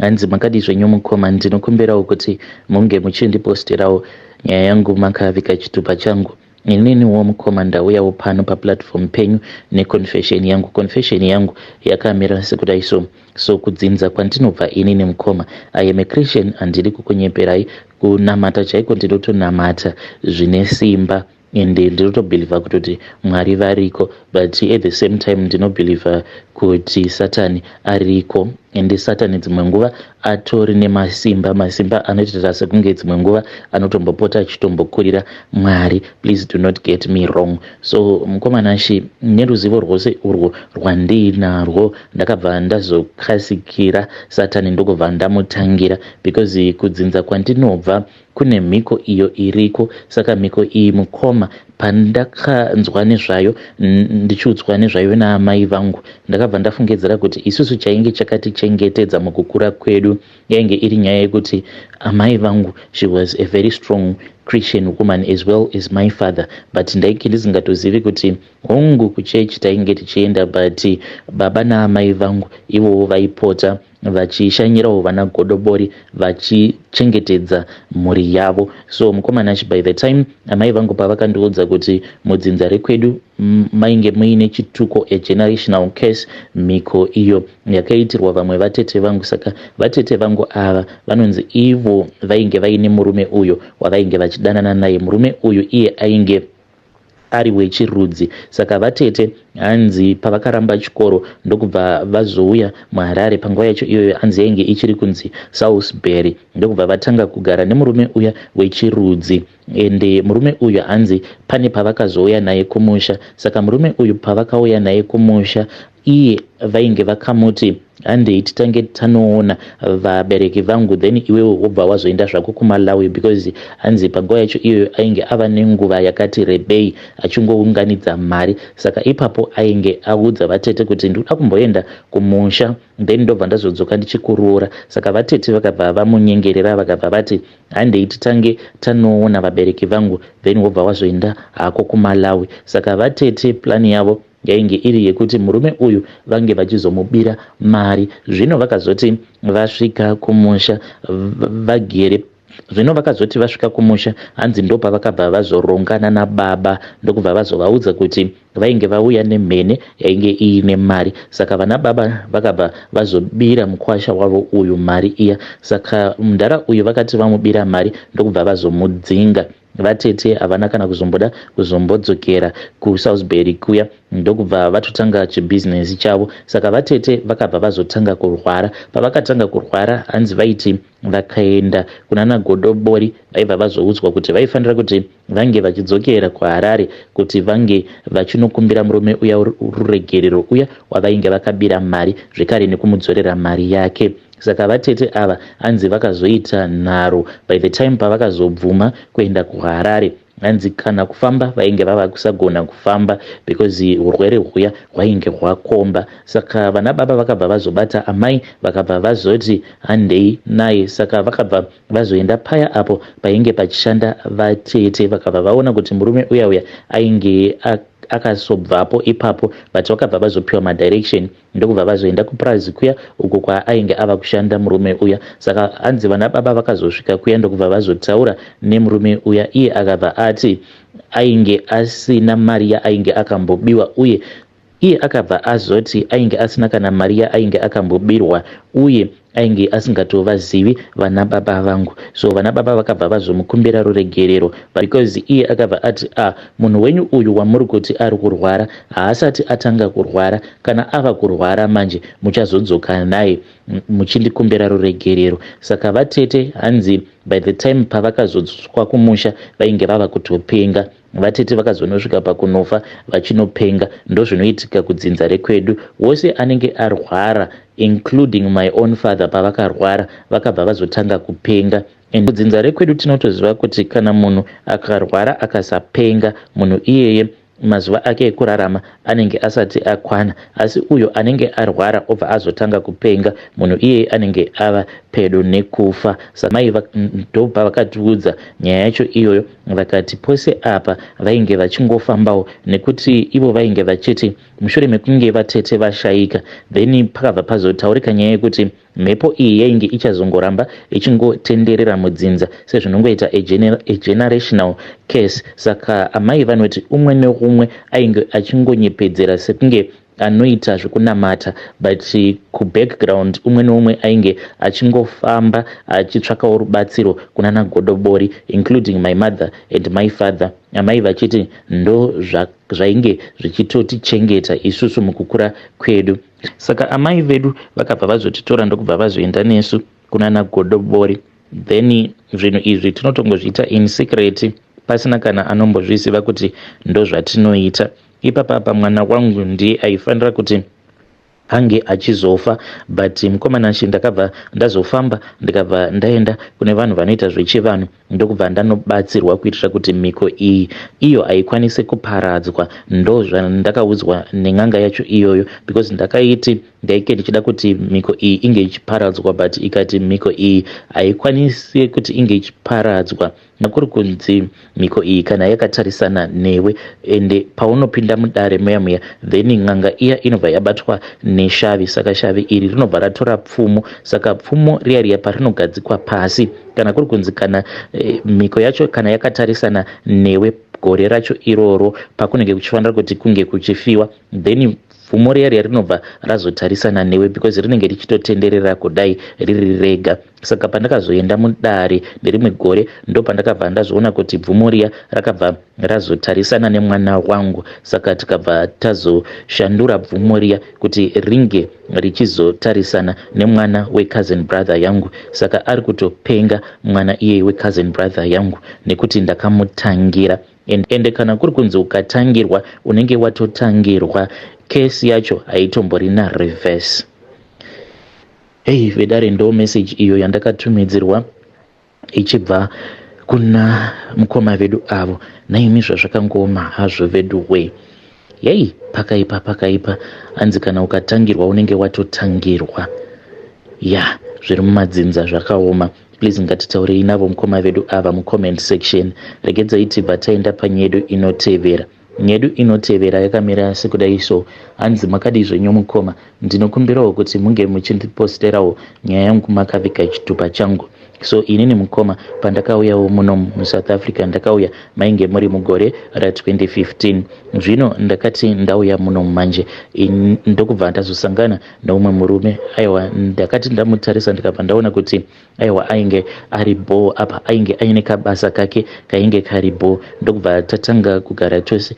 Hanzi makadii zvenyu mukoma ndinokumbirawo kuti munge muchindipostirawo nyaya yangu makaviga chitupa changu ininiwo mukoma ndauyawo pano paplatform penyu neconfession yangu confession yangu yakamira sekudai so so kudzinza kwandinobva inini mukoma i am a christian handidi kukunyeperai kunamata chaiko ndinotonamata zvine simba and ndinotobhilivha kutoti mwari variko but at the same time ndinobhilivha kuti satani ariko ende satani dzimwe nguva atori nemasimba masimba anoitira sekunge dzimwe nguva anotombopota achitombokurira mwari please do not get me wrong so mukomana shi neruzivo rwose urwo rwandiinarwo ndakabva ndazokasikira satani ndokubva ndamutangira because kudzinza kwandinobva Kune mhiko iyo iriko saka mhiko iyi mukoma pandakanzwa nezvayo ndichiudzwa nezvayo naamai vangu ndakabva ndafungedzera kuti isusu chainge chakatichengetedza mukukura kwedu yainge iri nyaya yekuti amai vangu she was a very strong christian woman as well as my father but ndainge ndisingatozivi kuti hongu kuchechi tainge tichienda but baba naamai vangu ivowo vaipota vachishanyirawo vana godobori vachichengetedza mhuri yavo so mukomana ch by the time amai vangu pavakandiudza kuti mudzinza rekwedu mainge muine chituko a generational case mhiko iyo yakaitirwa vamwe vatete vangu saka vatete vangu ava vanonzi ivo vainge vaine murume uyo wavainge vachidanana naye murume uyu iye ainge ari wechirudzi saka vatete hanzi pavakaramba chikoro ndokubva vazouya muharare panguva yacho iyoyo hanzi yainge ichiri kunzi salisbury ndokubva vatanga kugara nemurume uya wechirudzi ende murume uyu hanzi pane pavakazouya naye kumusha saka murume uyu pavakauya naye kumusha iye vainge vakamuti Handei titange tanoona vabereki vangu then iwewe wobva wazoenda zvako kuMalawi because hanzi panguva yacho iyoyo ainge ava nenguva yakati rebei achingounganidza mari saka ipapo ainge audza vatete kuti ndikuda kumboenda kumusha then ndobva ndazodzoka ndichikuroora saka vatete vakabva vamunyengerera vakabva vati handei titange tanoona vabereki vangu then wobva wazoenda hako kuMalawi saka vatete plan yavo Yainge iri yekuti murume uyu vange vachizomubira mari zvino vakazoti vasvika kumusha vagere zvino vakazoti vasvika kumusha hanzi ndopavakabva vazorongana nababa ndokubva vazovaudza kuti vainge vauya nemhene yainge iine mari saka vana baba vakabva vazobira mukwasha wavo uyu mari iya saka mdhara uyu vakati vamubira mari ndokubva vazomudzinga Vatete havana kana kuzomboda kuzombodzokera kuSalisbury kuya ndokubva vatotanga chibhizinesi chavo. Saka vatete vakabva vazotanga kurwara. Pavakatanga kurwara hanzi vaiti vakaenda kunana Godobori vaibva vazoudzwa kuti vaifanira kuti vange vachidzokera kuHarare kuti vange vachinokumbira murume uya ruregerero uya wavainge vakabira mari zvekare nekumudzorera mari yake. Saka vatete ava hanzi vakazoita nharo by the time pavakazobvuma kuenda kuHarare hanzi kana kufamba vainge vava kusagona kufamba because urwere huya hwainge hwakomba saka vana baba vakabva vazobata amai vakabva vazoti handei naye saka vakabva vazoenda paya apo painge pachishanda vatete vakabva vaona kuti murume uya uya ainge akasobvapo ipapo but vakabva vazopiwa madirection ndokubva vazoenda kupurazi kuya uko kwaainge ava kushanda murume uya saka hanzi vana baba vakazosvika kuya ndokubva vazotaura nemurume uya iye akabva ati ainge asina mari yaainge akambobiwa uye iye akabva azoti ainge asina kana mari yaainge akambobirwa uye Ainge asingatovazivi vana baba vangu so vana baba vakabva vazomukumbira ruregerero because iye akabva ati ah munhu wenyu uyu wamuri kuti ari kurwara haasati atanga kurwara kana ava kurwara manje muchazodzoka naye muchindikumbira ruregerero saka vatete hanzi by the time pavakazodzoswa kumusha vainge vava kutopenga Vatete vakazonosvika pakunofa vachinopenga ndozvinoitika kudzinza rekwedu wose anenge arwara including my own father pavakarwara vakabva vazotanga kupenga and kudzinza rekwedu tinotoziva kuti kana munhu akarwara akasapenga munhu iyeye mazuva ake ekurarama anenge asati akwana asi uyo anenge arwara obva azotanga kupenga munhu iyeye anenge ava pedo nekufa samai ndobva vakatiudza nyaya yacho iyoyo vakati pose apa vainge vachingofambawo nekuti ivo vainge vachiti mushure mekunge vatete vashaika then pakabva pazotaurika nyaya yekuti mhepo iyi yainge ichazongoramba ichingotenderera mudzinza sezvinongoita agenerational case saka amai vanoti umwe neumwe ainge achingonyepedzera sekunge anoita zvekunamata but kubackground umwe neumwe ainge achingofamba achitsvakawo rubatsiro kunana godobori including my mother and my father amai vachiti ndo zvainge zvichitotichengeta isusu mukukura kwedu saka amai vedu vakabva vazotitora ndokubva vazoenda nesu kunana godobori then zvinhu izvi tinotongozviita in secret pasina kana anombozviziva kuti ndozvatinoita Ipapa apa mwana wangu ndiye aifanira kuti ange achizofa but mukomana Nashi ndakabva ndazofamba ndikabva ndaenda kune vanhu vanoita zvechivanhu ndokubva ndanobatsirwa kuitira kuti mhiko iyi iyo haikwanise kuparadzwa ndo zvandakaudzwa nen'anga yacho iyoyo because ndakaiti ndaike ndichida kuti mhiko iyi inge ichiparadzwa but ikati mhiko iyi haikwanise kuti inge ichiparadzwa Nekuri kunzi mhiko iyi kana yakatarisana newe ende paunopinda mudare muya muya then n'anga iya inobva yabatwa neshavi saka shavi iri rinobva ratora pfumo saka pfumo riya riya parinogadzikwa pasi kana kuri kunzi kana eh, mhiko yacho kana yakatarisana newe gore racho iroro pakunenge kuchifanira kuti kunge kuchifiwa then pfumo riya riya rinobva razotarisana newe because rinenge richitotenderera kudai riri rega Saka pandakazoenda mudare nerimwe gore ndopandakabva ndazviona kuti bvumo riya rakabva razotarisana nemwana wangu saka tikabva tazoshandura bvumo riya kuti ringe richizotarisana nemwana wecousin brother yangu saka ari kutopenga mwana iyeye wecousin brother yangu nekuti ndakamutangira ende kana kuri kunzi ukatangirwa unenge watotangirwa kesi yacho haitomborina reverse Hey vedare ndo message iyo yandakatumidzirwa ichibva kuna mukoma vedu avo naimi zvazvakangoma hazvo veduwee yei pakaipa pakaipa hanzi kana ukatangirwa unenge watotangirwa ya zviri mumadzinza zvakaoma please ngatitaurei navo mukoma vedu ava mucomment section regedzai tibva taenda panyedu inotevera Nyedu inotevera yakamira sekudai so. Hanzi makadii zvenyu mukoma. Ndinokumbirawo kuti munge muchindiposterawo nyaya yangu makaviga chitupa changu. So inini mukoma pandakauyawo muno muSouth Africa ndakauya mainge muri mugore ra 2015. Zvino ndakati ndauya muno manje ndokubva ndazosangana neumwe murume aiwa ndakati ndamutarisa ndikabva ndaona kuti aiwa ainge ari bhoo apa ainge aine kabasa kake kainge kari bhoo ndokubva tatanga kugara tose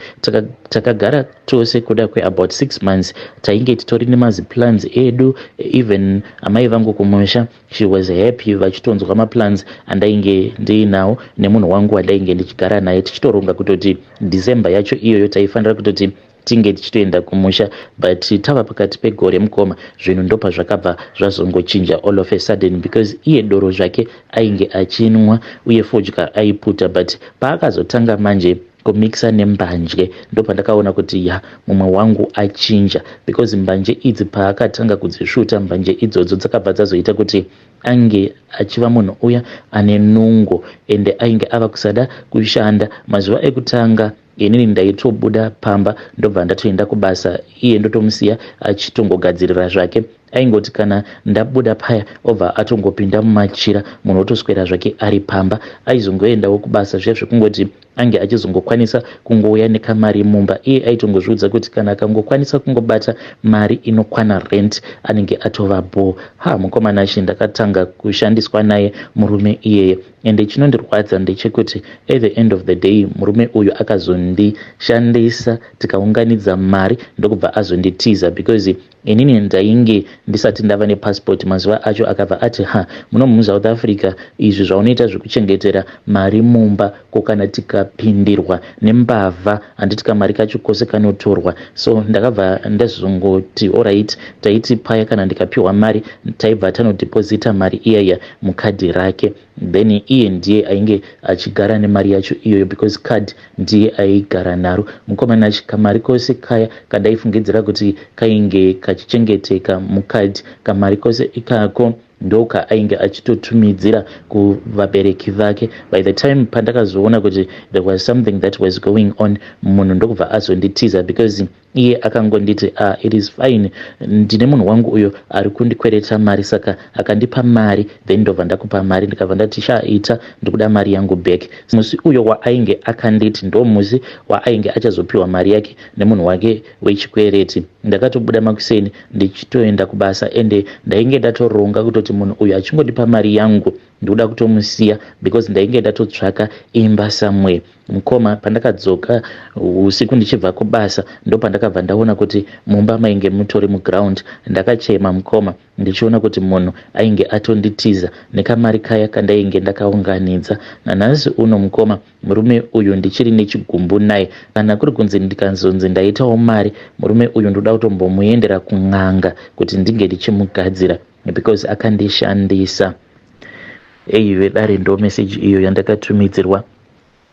takagara taka tose kuda kweabout six months tainge titori nemaziplans edu even amai vangu kumusha she was happy vachitonzwa maplans andainge ndiinawo nemunhu wangu wandainge ndichigara naye tichitoronga kutoti december yacho iyoyo taifanira kutoti tinge tichitoenda kumusha but tava pakati pegore mukoma zvinhu ndopazvakabva zvazongochinja all of a sudden because iye doro zvake ainge achinwa uye fodya aiputa but paakazotanga manje kumixa nembanje ndopandakaona kuti ya mumwe wangu achinja because mbanje idzi paakatanga kudzisvuta mbanje idzodzo dzakabva dzazoita kuti ange achiva munhu uya ane nungo ende ainge ava kusada kushanda mazuva ekutanga inini ndaitobuda pamba ndobva ndatoenda kubasa iye ndotomusiya achitongogadzirira zvake aingoti kana ndabuda paya obva atongopinda mumachira munhu otoswera zvake ari pamba aizongoendawo kubasa zviya zvekungoti ange achizongokwanisa kungouya nekamari mumba iye aitongozviudza kuti kana akangokwanisa kungobata mari inokwana rent anenge atova bhoo ha mukomana shi ndakatanga kushandiswa naye murume iyeye Ende chinondirwadza ndechekuti at the end of the day murume uyu akazondishandisa tikaunganidza mari ndokubva azonditiza because inini ndainge ndisati ndava nepassport mazuva acho akabva ati ha muno musouth africa izvi zvaunoita zvekuchengetera mari mumba ko kana tikapindirwa nembavha handiti kamari kacho kose kanotorwa so ndakabva ndazongoti orit taiti paya kana ndikapiwa mari taibva tanodepozita mari iyaiya mukadhi rake then iye ndiye ainge achigara nemari yacho iyoyo because card ndiye aigara naro mukomana achi kamari kose kaya kadaifungidzira kuti kainge kachichengeteka mukadhi kamari kose ikako ndoka ainge achitotumidzira kuvabereki vake by the time pandakazoona kuti there was something that was going on munhu ndokubva azonditiza because iye akangonditi a ah, it is fine ndine munhu wangu uyo ari kundikwereta mari saka akandipa mari then ndobva ndakupa mari ndikabva ndati chaaita ndikuda mari yangu back musi uyo waainge akanditi ndo musi waainge achazopiwa mari yake nemunhu wake wechikwereti. Ndakatobuda makuseni ndichitoenda kubasa ende ndainge ndatoronga kutoti munhu uyu achingondipa mari yangu ndikuda kutomusiya because ndainge ndatotsvaka imba somewhere. Mukoma pandakadzoka usiku ndichibva kubasa ndopandakabva ndaona kuti mumba mainge mutori muground. Ndakachema mukoma. ndichiona kuti munhu ainge atonditiza nekamari kaya kandainge ndakaunganidza. Nanhasi uno mukoma murume uyu ndichiri nechigumbu naye. Kana kuri kunzi ndikanzonzi ndaitawo mari, murume uyu ndoda kutombomuendera kun'anga kuti ndinge ndichimugadzira because akandishandisa. Eyi vedare ndoo message iyo yandakatumidzirwa.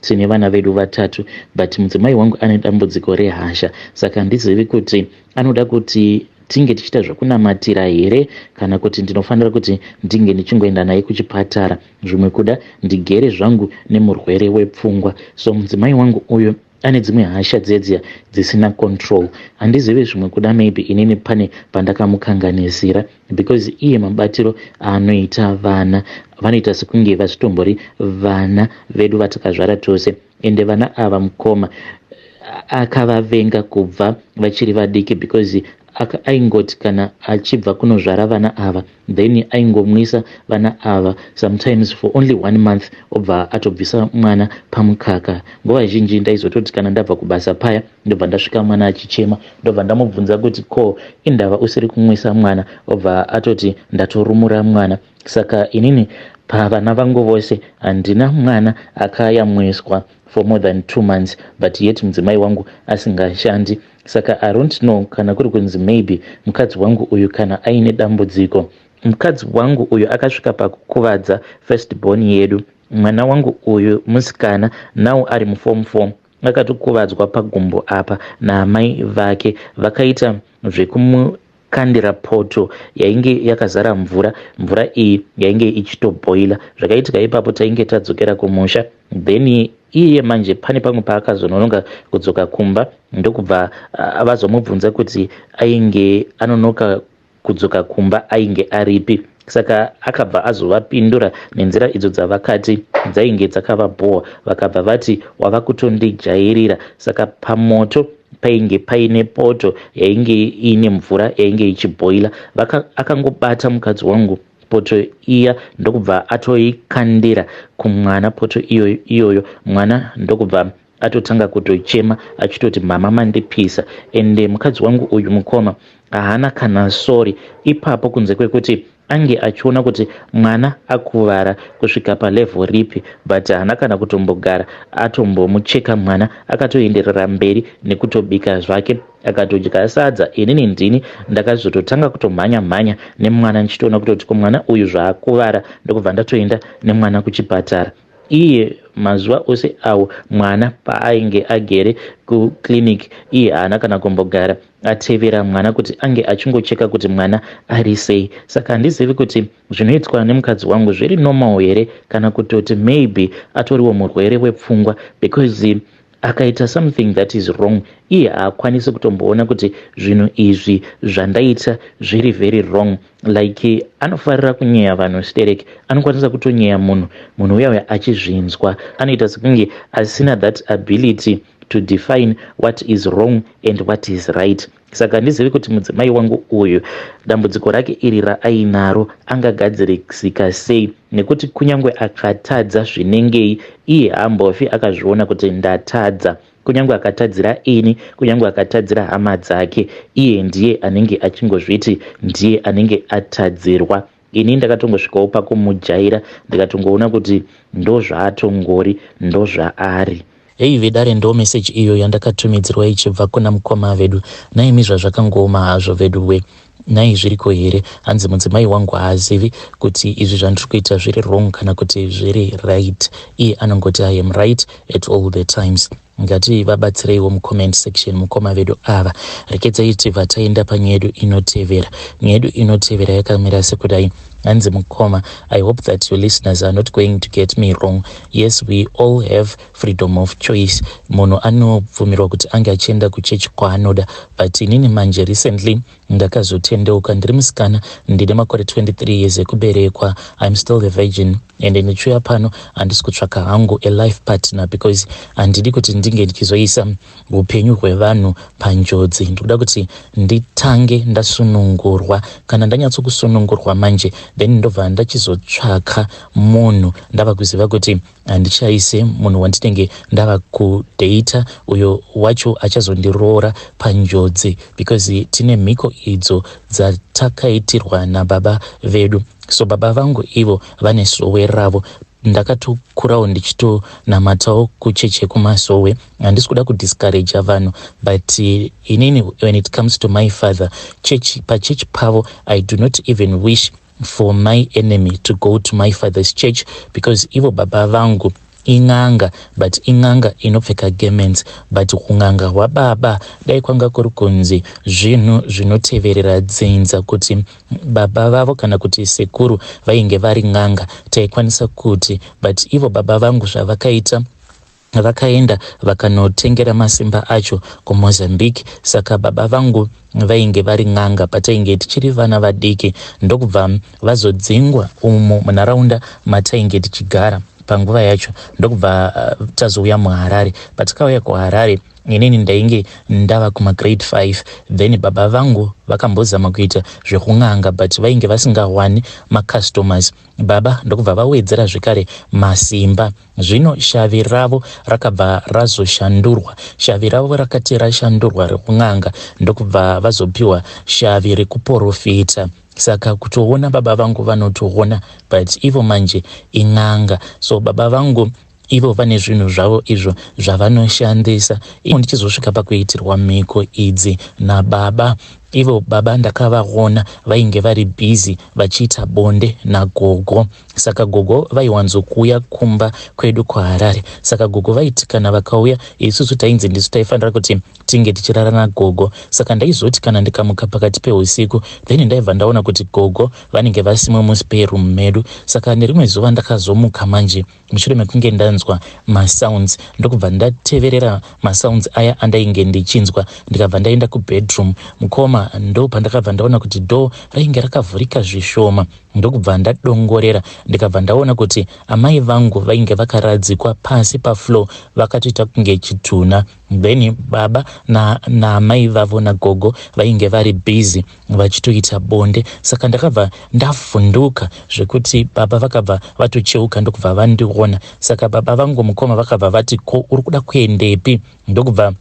Tine vana vedu vatatu but mudzimai wangu ane dambudziko rehasha saka handizivi kuti anoda kuti tinge tichiita zvekunamatira here kana kuti ndinofanira kuti ndinge ndichingoenda naye kuchipatara zvimwe kuda ndigere zvangu nemurwere wepfungwa so mudzimai wangu uyu ane dzimwe hasha dzedziya dzisina control handizivi zvimwe kuda maybe inini pane pandakamukanganizira because iye mabatiro aanoita vana vanoita sekunge vasitombori vana vedu vatakazvara tose ende vana ava mukoma akavavenga kubva vachiri vadiki because aingoti kana achibva kunozvara vana ava then aingomwisa vana ava sometimes for only one month obva atobvisa mwana pamukaka nguva zhinji ndaizototi kana ndabva kubasa paya ndobva ndasvika mwana achichema ndobva ndamubvunza kuti ko indava usiri kumwisa mwana obva atoti ndatorumura mwana saka inini pavana vangu vose handina mwana akayamwiswa for more than two months but yet mudzimai wangu asingashandi saka i don't know kana kuri kunzi maybe mukadzi wangu uyu kana aine dambudziko mukadzi wangu uyu akasvika pakukuvadza first born yedu mwana wangu uyu musikana now ari muform form Akatokuvadzwa pagumbo apa naamai vake vakaita zvekumukandira poto yainge yakazara mvura. Mvura iyi yainge ichitobhoila. Zvakaitika ipapo tainge tadzokera kumusha then iye manje pane pamwe paakazononoka kudzoka kumba ndokubva vazomubvunza kuti ainge anonoka kudzoka kumba ainge aripi saka akabva azovapindura nenzira idzo dzavakati dzainge dzakavabhowa vakabva vati wava kutondijairira saka pamoto painge paine poto yainge iine mvura yainge ichibhoila akangobata mukadzi wangu poto iya ndokubva atoikandira kumwana poto iyoyo iyoyo mwana ndokubva atotanga kutochema achitoti mama mandipisa ende mukadzi wangu uyu mukoma haana kana sorry ipapo kunze kwekuti ange achiona kuti mwana akuvara kusvika palevel ripi but haana kana kutombogara atombomucheka mwana akatoenderera mberi nekutobika zvake akatodya sadza inini ndini ndakazototanga kutomhanya mhanya nemwana ndichitoona kutoti ko mwana uyu zvaakuvara ndokubva ndatoenda nemwana kuchipatara iye mazuva ose awo mwana paainge agere kuclinic iye haana kana kumbogara atevera mwana kuti ange achingocheka kuti mwana ari sei saka handizivi kuti zvinoitwa nemukadzi wangu zviri normal here kana kutoti maybe atoriwo murwere wepfungwa because akaita something that is wrong iye haakwanisi kutomboona kuti zvinhu izvi zvandaita zviri very wrong like anofarira kunyeya vanhu sterek anokwanisa kutonyeya munhu munhu uya uya achizvinzwa anoita sekunge asina that ability to define what is wrong and what is right Saka handizivi kuti mudzimai wangu uyu dambudziko rake iri raainaro angagadzirisika sei nekuti kunyange akatadza zvinengei iye hambofi akazviona kuti ndatadza kunyange akatadzira ini kunyange akatadzira hama dzake iye ndiye anenge achingozviti ndiye anenge atadzirwa Ini ndakatongosvikawo pakumujaira ndikatongoona kuti ndozvaatongori ndozvaari. Heyi vedare ndoo message iyo yandakatumidzirwa ichibva kuna mukoma vedu. Nhaimi zvazvakangooma hazvo veduwe. Nhai zviriko here? Hanzi mudzimai wangu haazivi kuti izvi zvandiri kuita zviri wrong kana kuti zviri right. Iye anongoti I am right at all the times. Ngati vabatsireiwo mu comment section mukoma vedu ava. Rekedzai tibva taenda panyaya yedu inotevera. Nyaya yedu inotevera yakamira sekudai. Hanzi mukoma, I hope that your listeners are not going to get me wrong. Yes, we all have freedom of choice. Munhu anobvumirwa kuti ange achienda kuchechi kwaanoda. But inini manje recently Ndakazotendeuka ndiri musikana ndine makore 23 years ekuberekwa I'm still a virgin and ndichiuya pano handisi kutsvaka hangu a life partner because handidi kuti ndinge ndichizoisa upenyu hwevanhu panjodzi ndikuda kuti nditange ndasunungurwa kana ndanyatsokusunungurwa manje then ndobva ndachizotsvaka munhu ndava kuziva kuti handishaise munhu wandinenge ndava kudata uyo wacho achazondiroora panjodzi because tine mhiko idzo dzatakaitirwa nababa vedu so baba vangu ivo vane sowe ravo ndakatokurawo ndichitonamatawo kucheche kumasowe handisi kuda kudiscouraja vanhu but eh, inini when it comes to my father church pachechi pavo i do not even wish for my enemy to go to my father's church because ivo baba vangu in'anga but in'anga inopfeka garments but kun'anga hwababa dai kwanga kuri kunzi zvinhu zvinoteverera dzinza kuti baba vavo kana kuti sekuru vainge vari n'anga taikwanisa kuti but ivo baba vangu zvavakaita Vakaenda vakanotengera masimba acho kuMozambique saka baba vangu vainge vari n'anga patainge tichiri vana vadiki ndokubva vazodzingwa umu munharaunda matainge tichigara panguva yacho ndokubva uh, tazouya muharare patakauya kuharare inini ndainge ndava kumagrade 5 then baba vangu vakambozama kuita zvekun'anga but vainge vasingawani macustomers baba ndokubva vawedzera zvekare masimba Zvino shavi ravo rakabva razoshandurwa, shavi ravo rakati rashandurwa rekun'anga, ndokubva vazopiwa shavi rekuporofita. Saka kutoona baba vangu vanotoona, but ivo manje in'anga, so baba vangu ivo vane zvinhu zvavo izvo zvavanoshandisa, ivo ndichizosvika pakuitirwa mhiko idzi nababa. Ivo baba ndakavaona vainge vari busy vachiita bonde nagogo saka gogo vaiwanzokuuya kumba kwedu kuharare saka gogo vaiti kana vakauya isusu tainzi ndisu taifanira kuti tinge tichirara nagogo saka ndaizoti kana ndikamuka pakati peusiku then ndaibva ndaona kuti gogo vanenge vasimo muspare room medu saka nerimwe zuva ndakazomuka manje mushure mekunge ndanzwa masounds ndokubva ndateverera masounds aya andainge ndichinzwa ndikabva ndaenda kubedroom mukoma ndo pandakabva ndaona kuti door rainge rakavhurika zvishoma ndokubva ndadongorera ndikabva ndaona kuti amai vangu vainge vakaradzikwa pasi pafloor vakatoita kunge chitunha Then baba naamai na vavo nagogo vainge vari busy vachitoita bonde saka ndakabva ndavhunduka zvekuti baba vakabva vatocheuka ndokubva vandiona saka baba vangu mukoma vakabva vati ko uri kuda kuendepi ndokubva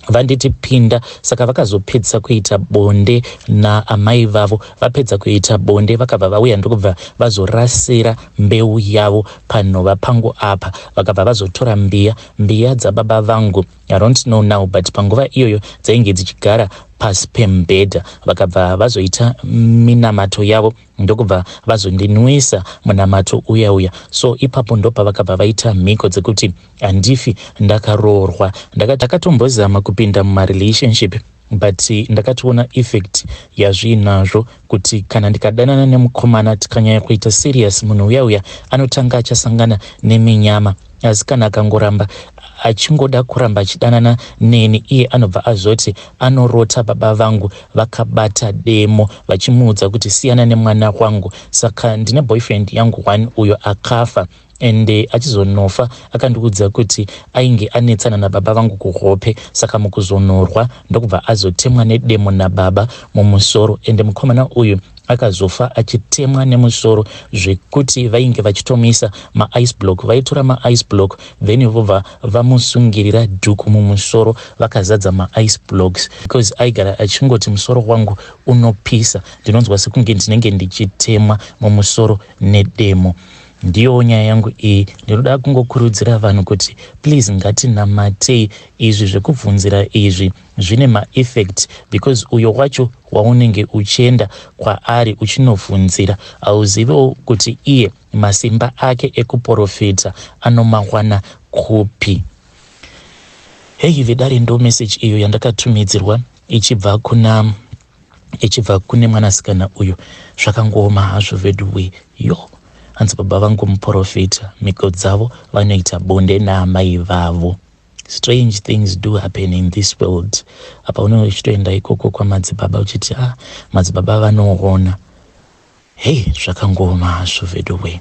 vanditi pinda saka vakazopedzisa kuita bonde naamai vavo vapedza kuita bonde vakabva vauya ndokubva vazorasira mbeu yavo panhova pangu apa vakabva vazotora mbiya Mbiya dzababa vangu I don't know now but panguva iyoyo dzainge dzichigara pasi pemubhedha vakabva vazoita minamato yavo ndokubva vazondinwisa munamato uya uya so ipapo ndopavakabva vaita mhiko dzekuti handifi ndakaroorwa ndakatombozama kupinda mumarelationship but ndakatoona effect yazviinazvo kuti kana ndikadanana nemukomana tikanyanya kuita serious munhu uya uya anotanga achasangana neminyama asi kana akangoramba achingoda kuramba achidanana neni iye anobva azoti anorota baba vangu vakabata demo vachimuudza kuti siyana nemwana wangu saka ndine boyfriend yangu one uyo akafa and eh, achizonofa akandiudza kuti ainge anetsana nababa vangu kuhope saka mukuzonorwa ndokubva azotemwa nedemo nababa mumusoro ende mukomana uyu akazofa achitemwa nemusoro zvekuti vainge vachitomuisa maice block vaitora maice block then vobva vamusungirira dhuku mumusoro vakazadza maice blocks because aigara achingoti musoro wangu unopisa ndinonzwa sekunge ndinenge ndichitemwa mumusoro nedemo Ndiyo nyaya yangu iyi ndinoda kungokurudzira vanhu kuti please ngatinamatei izvi zvekubvunzira izvi zvine maeffect because uyo wacho waunenge uchienda kwaari uchinobvunzira hauzivewo kuti iye masimba ake ekuporofita anomawana kupi heyi vedare ndo meseji iyo yandakatumidzirwa ichibva kuna ichibva kune mwanasikana uyu zvakangooma hazvo veduwe yo hanzi baba vangu muprofita mhiko dzavo vanoita bonde naamai vavo strange things do happen in this world apa unenge uchitoenda ikoko kwamadzibaba uchiti ah madzibaba vanoona hei zvakangooma hazvo veduwe